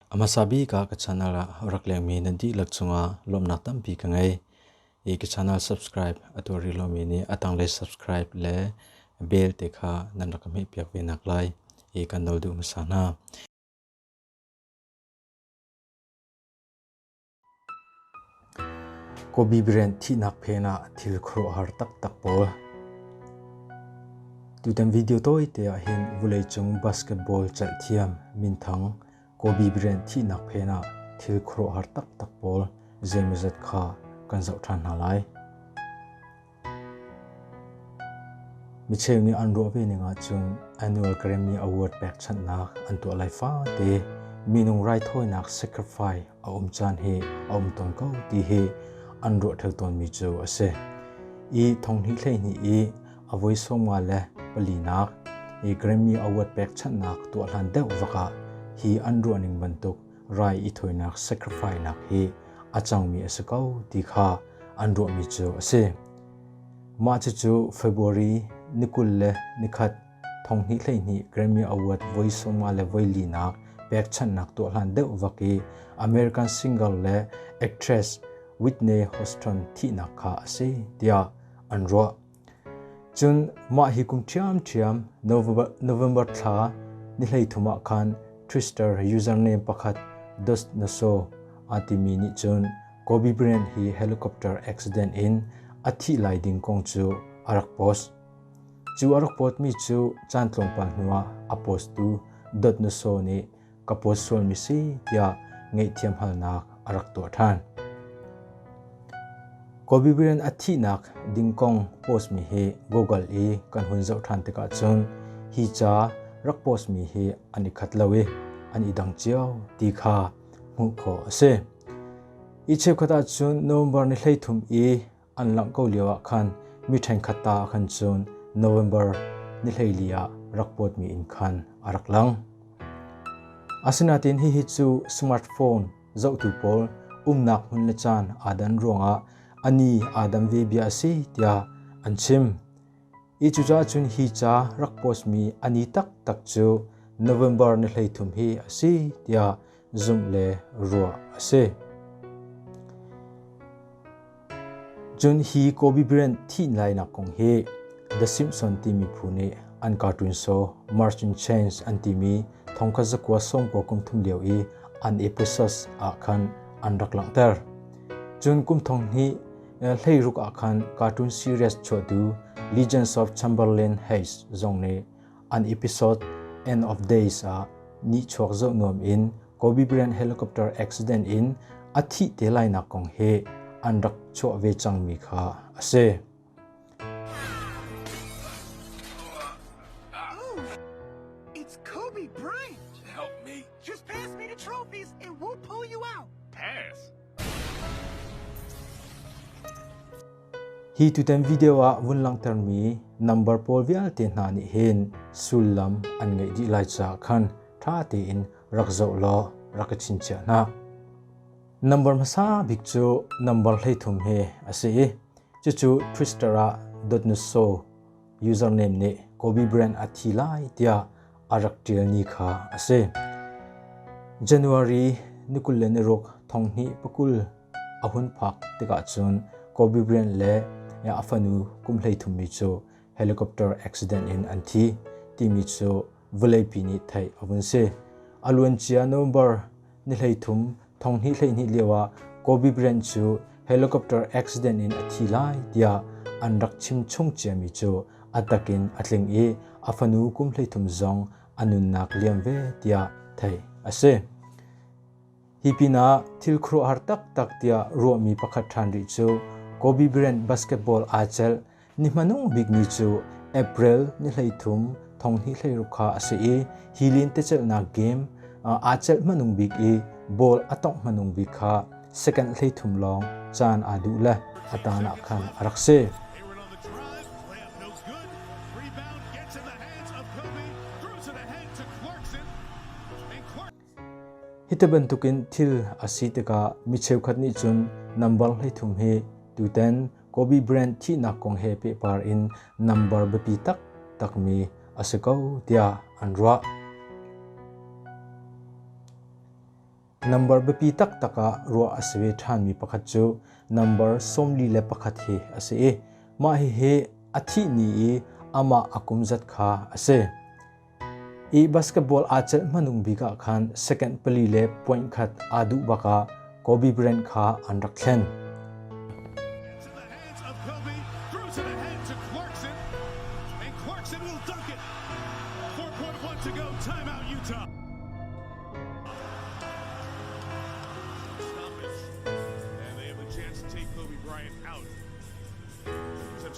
A hmasa bik ah ka channel ah rak lengmi nan dihlak cungah lawmhnak tampi ka ngei. I ka channel subscribe a tuar rih lomi nih a tanglei subscribe le bell te kha nan rak ka hmehpiak ve nak lai i kan nol duh hmasa hna. Kobi brand thihnak phen ah thil khuaruahhar taktak pawl. Tutan video tawite ah hin vuleicung basketball celhthiam minthang Kobi brand thihnak phen ah thil khuaruahhar taktak pawl zeimazat kha kan zoh ṭhan hna lai. Micheu nih an ruah ve ning ahcun annual Grammy Award pekchanhnak an tuah lai fate minung raithawinak sacrifice a um caan hi a um tawn ko ti hi an ruahthel tawnmi cu a si. I thonghni hleihnih i a voi sawmnga le palinak i Grammy Award pekchanhnak tuah hlan deuh vakah hi an ruah ning bantuk rai i thawinak sacrifice hi a cangmi a si ko ti kha an ruahmi cu a si. Mah cucu February ni kul le ni khat thonghni hleihni Grammy Award voi sawmnga le voi linak pekchanhnak tuah hlan deuh vak i American singer le actress Whitney Houston thihnak kha a si tiah an ruah. Cun mah hi kum ṭhiamṭhiam November thla ni hleithum ah khan Twister username pakhat Dus na so aa timi nih cun Kobe Bryant hi helicopter accident in a thih lai ding kong cu a rak post. Cu a rak post mi cu caan tlawmpal hnuah a posttu Dot na so nih ka puat sualmi si tiah ngaihthiam halnak a rak tuah ṭhan. Kobe Bryant a thihnak ding kong postmi hi Google i kan hun zoh ṭhan tikah cun hi ca rak postmi hi an i khat lo i an i dang cio ti kha hmuh khawh a si. Hi cheukhat ah cun November ni hleithum i an langh ko lio ah khan mi ṭhenkhat ta a kan cun November ni hleili ah rak kuatmi in khan a rak lang. Asinain hihi cu smartphone zohtu pawl umnak hmun le caan aa dan ruangah a ni aa dam ve bia a si tiah an chim. Hi cucaah cun hi ca rak postmi a ni taktak cu November ni hleithum hi a si tiah zumh le ruah a si. Cun hi Kobe Bryant thih lainak kong hi The Simpson timi phu nih an cartoon so March in Change an timi thongkhat zakua sawmkua kum thum lio i an episode ah khan an rak langhter. Cun kum thong hnih hleiruk ah khan cartoon series chuahtu Legends of Chamberlain Hayes zong nih an episode End of Days ah nihchuak zoh nuam in Kobe Bryant helicopter accident in a thih te lainak kong hi an rak chuah ve cangmi kha a si. It's Kobe Bryant. Help me. Just pass me the trophies and we'll pull you out. Pass? Hi tutan video ah vun langhtermi nambar pawl vialte hna nih hin sullam an ngeih dih lai caah khan ṭha tein rak zoh law rak i chinchiah hna. Nambar hmasa bik cu nambar hleithum hi a si i cucu Twister ah dot nutso username nih Kobe brand a thi lai tiah a rak ṭial ni kha a si. January ni kul le ni ruk thong hnih pakul a hun phak tikah cun Kobe Bryant le a fanu kum hleithum mi cu helicopter accident in an thi timi cu vawleipi nih theih a vun si. A luancia November ni hleithum thonghnih hleihnih lioah Kobe Bryant cu helicopter accident in a thi lai tiah an rak chimchung ciami cu a takin a tling i a fanu kum hleithum zong a nunnak liam ve tiah theih a si. Hi pinah thil khuaruahhar taktak tiah ruahmi pakhat ṭhan rih cu Kobe Bryant basketball aa celh. Ni hmanung bikmi cu April ni hleithum thonghnih hleiruk kha a si i hi lentecelhnak game aa celh hmanung bik i ball a tongh hmanung bik kha second hleithum lawng caan aa duh le a tan ah khan a rak si. Hiti bantukin thil a si tikah mi cheukhat nih cun nambar hleithum hi tutan Kobe brand thihnak kong he pehpar in nambar biapi taktakmi a si ko tiah an ruah. Nambar biapi taktak ah ruah a si ve ṭhanmi pakhat cu nambar sawmli le pakhat hi a si i mah hihi a thih ni i amah a kum zat kha a si. Ih basketball aa celh hmanung bik ah khan second pali le point khat aa duh bak ah Kobe Bryant kha an rak thlen.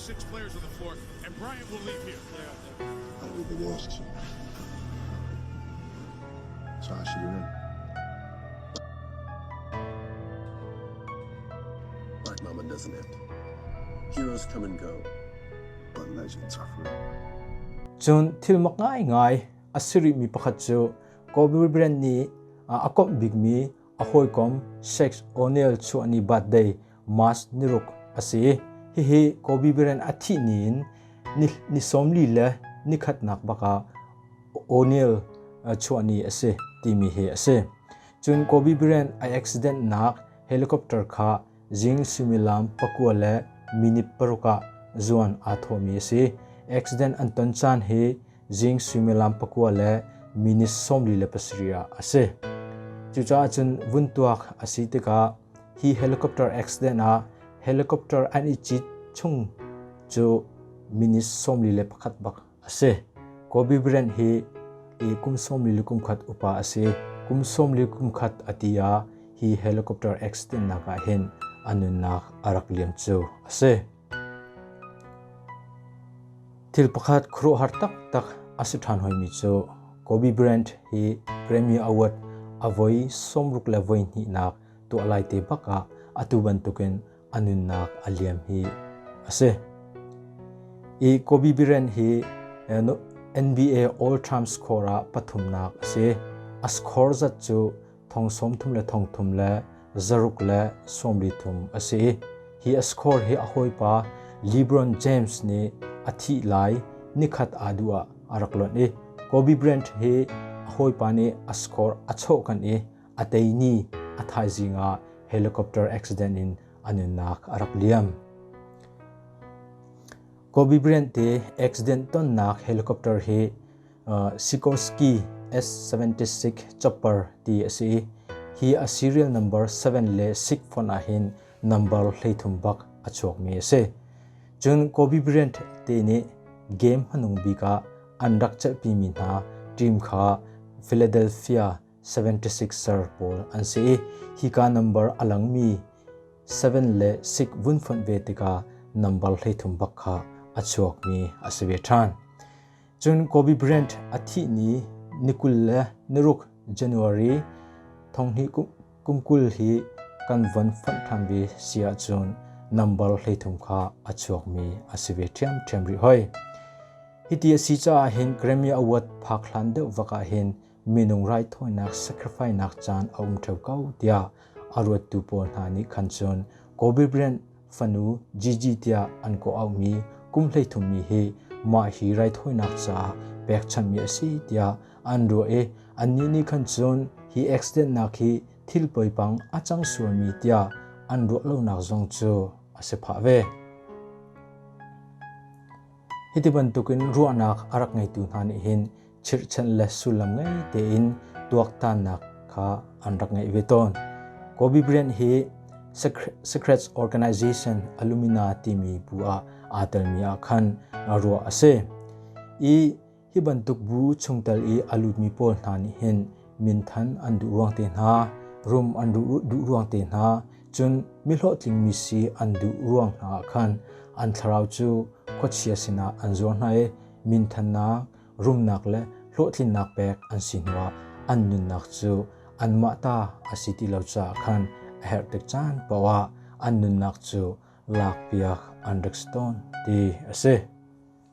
six players on the floor, and Bryant will leave here. Black Mama doesn't act. Heroes come and go, but legends are free. Cun thil mak ngai ngai a siri mi pakhat cu Kobe Bryant nih a kawmh bikmi A hawikom Sheikh O'Neil chuahni birthday March niruk a si. Hihi Kobe Bryant a thih ni in ni sawmli le nikhatnak bakah O'Neil chuahni a si timi hi a si. Cun Kobe Bryant a accident nak helicopter kha Zing suimilam pakua le minute paruk ah zuan aa thawhmi a si. Accident an ton caan hi zing suimilam pakua le minute sawmli le pasarih ah a si. Cucaah cun vun tuak a si tikah hi helicopter accident ah helicopter an i cit chung cu minute sawmli le pakhat bak a si. Kobe Bryant hi kum sawmli le kumkhat upa a si. Kum sawmli kumkhat a ti ah hi helicopter accident ah hin a nunnak a rak liam cu a si. Thil pakhat khuaruahhar taktak a si ṭhan hoimi cu Kobe Bryant hi Grammy Award a voi sawmruk le voi hnihnak tuah lai te bak ah atu bantukin a nunnak a liam hi a si. I Kobe Bryant hi NBA All Time Score ah pathumnak a si. A score zat cu thong sawm thum le thong thum le zaruk le sawmri thum a si. Hi a score hi a hawipa LeBron James nih a thih lai nikhat aa duh ah a rak lonh i Kobe Bryant hi a hawipa nih a score a chawh kan i a teini a thaizing ah helicopter accident in anunnak a rak liam. Kobe Bryant te accident tonnak helicopter hi uh, Sikorsky S-76 chopper ti a si. Hi a serial number 7 le 6 phone ah hin number hleithum bak a chuak mi a si. Cun Kobe Bryant te nih game hanung bika an rak chalhpi mi hna team kha Philadelphia 76 ser pawl an si i hika nambar a langmi 7 le 6 vun fonh ve tikah nambar hleithum bak kha a chuakmi a si ve ṭhan. Cun Kobe Bryant a thih ni ni kul le niruk January thonghni kum kul hi kan von fonh ṭhan ve si ahcun nambar hleithum kha a chuakmi a si ve ṭhiamṭhiam rih hoi. Hiti a si caah hin Grammy Award phak hlan deuh vak ah hin minung raithawinak sacrificenak caan a um ṭheo ko tiah a ruattu pawl hna nih khan cun Kobe Bryant fanu Gigi tiah an kawh auhmi kum hleithummi hi mah hi raithawinak caah pekchanhmi a si tiah an ruah i annih nih khan cun hi accidentnak hi thil poipang a cang sualmi tiah an ruah lonak zong cu a si phah ve. Hiti bantukin ruahnak a rak ngeitu hna nih hin chirhchan le sullam ngei tein tuaktannak kha an rak ngeih ve tawn. Kobe Bryant hi Secrets Organization Illumina timi bu ah aa telmi ah khan ruah a si. I Hi bantuk bu chungtel i a lutmi pawl hna nih hin minthan an duh ruang te hna, rum an duh ruang te hna, cun mihlawhtlingmi si an duh ruang hna ah khan an thlarau cu khuachia sinah an zuar hna i minthannak, rumnak le hlawhtlinnak pek an si hnuah an nunnak cu anmah ta a si ti lo caah khan a herh tik caan poah an nunnak cu lakpiak an rik tawn ti a si.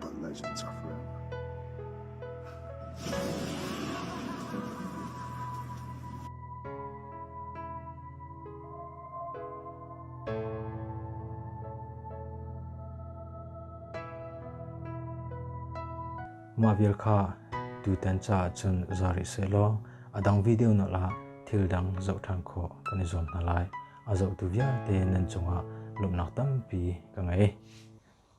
Palh lai cun cak hram. Mah vial kha tutan caah cun za rih sehlaw a dang video na la thil dang zoh ṭhan khawh kan i zuam hna lai. A zohtu vialte nan cungah lawmhnak tampi ka ngei.